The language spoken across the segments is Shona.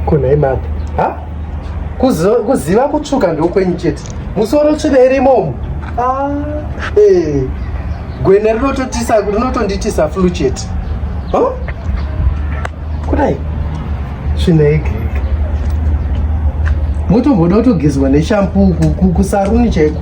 Kuna imapa. Ha? Kuziva kutsvuka ndokwenyu chete. Musoro tsvina iri imomo. Ah, eh. Gwena rinototisa rinotonditisa flu chete. Huh? Kudai. Tsvina yegiriki. Motomboda kutogezwa neshampu kusaruni chaiko.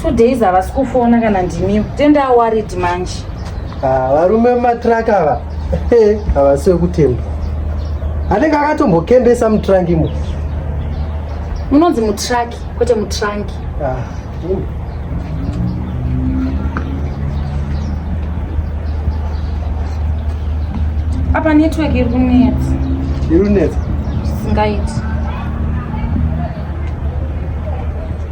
two days havasi kufona kana ndimiwo tenda awarid manje ah, varume mumatruck ava havasi wekutemba anenge akatombokembesa mutruck imo munonzi mutruck kwete mutruck ah, apa network iri kunetsa iri kunetsa singaiti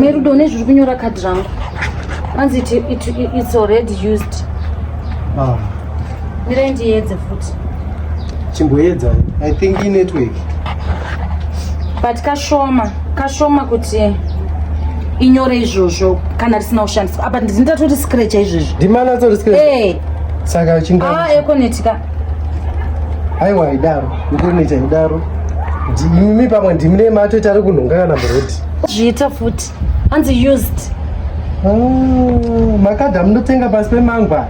merudo une zviri kunyora kadhi rangu anzi it, it, it, it's already used ah. mirai ndiedze futi chimboedza i think inetwork but kashoma kashoma kuti inyore izvozvo kana risina kushandiswa apa ndinoita toti scratch izvozvo ndimana tori scratch eh saka chinga ah ekonetika aiwa idaro ikonetika idaro ndimi pamwe ndimine mato tari kunhonga kana muroti zviita futi hanzi used oh, makadha munotenga pasi pemangwa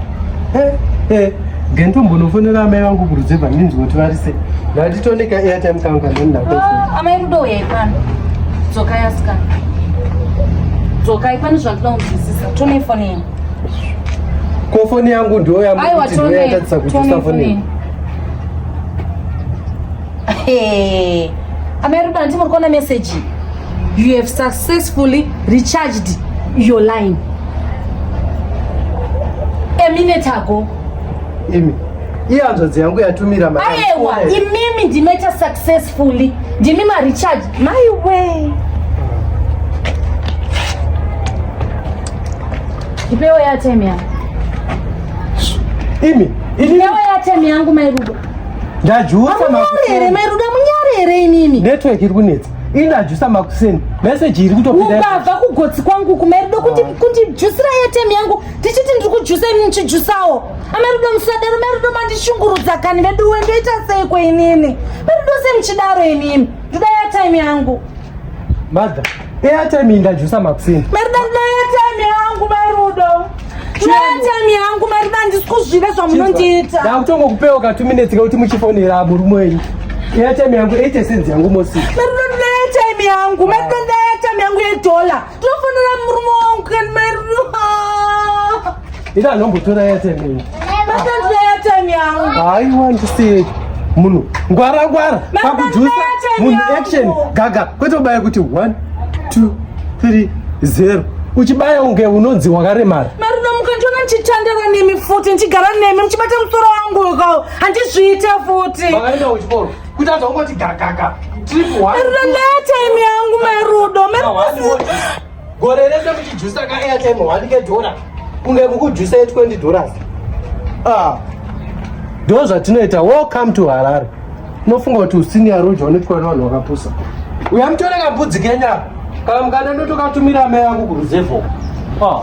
eh, eh. gento mbonofonera amai vangu kurudzeva ndinzwa kuti vari sei ndatitondeka airtime kangu kandondaamai ah, rudo uyai pano dzokai asikana dzokai pane zvandinoda kunzwisisa tonei foni yangu ko foni yangu ndiyo yamuaiwa tonei tonei foni yangu Hey, amai Ruben ndimo kuona message. You have successfully recharged your line. A minute ago. Imi. Iye hanzvadzi yangu yatumira mari. Ayewa, imimi ndimeita successfully. Ndimi ma recharge. My way. Ipewe ya time ya. Imi. Ipewe ya time yangu mai Ruben. ndajusa makuseni mai ruda munyare here inini network iri kunetsa inajusa makuseni meseji iri kutopindabva kugotsi kwangu kumairudo kundijusira ah. airtem yangu ndichiti ndiri kujusa ini ndichijusawo amairudo ah, musadaro mairudo mandishungurudza kani veduwe ndoita seiko inini mairudo semuchidaro inini ndoda airtime yangu mother Airtime ingajusa makuseni. Marida ndina airtime yangu marudo. Ndina airtime yangu marida handisi kuzviva zvamunondiita. Ndakutongo kupewa ka 2 minutes kuti muchifonera aburu mwenyu. Airtime yangu 80 cents yangu mosi. Marida ndina airtime yangu. Marida ndina airtime yangu ye dollar. Tofonera murume wangu kan marudo. ita anombotora airtime makanzwa airtime yangu hayi wandisiye munhu ngwara ngwara pakujusa munhu action gaga kwete kubaya kuti 1 2 3 0 uchibaya unge unonzi wakaremara ndichitandara nemi futi ndichigara nemi muchibata musoro wangu uko handizviite futi kutadza ungoti gagaga rudo ndaya time yangu marudo gore rese muchijusa ka airtime one kedhora kunge mukujusa ye 20 dollars ah ndo zvatinoita welcome to harare unofunga kuti usini yaroja unoitwa nevanhu vakapusa uya mutore kabudzi kenya kana mukada ndotokatumira mai yangu kuruzevho ah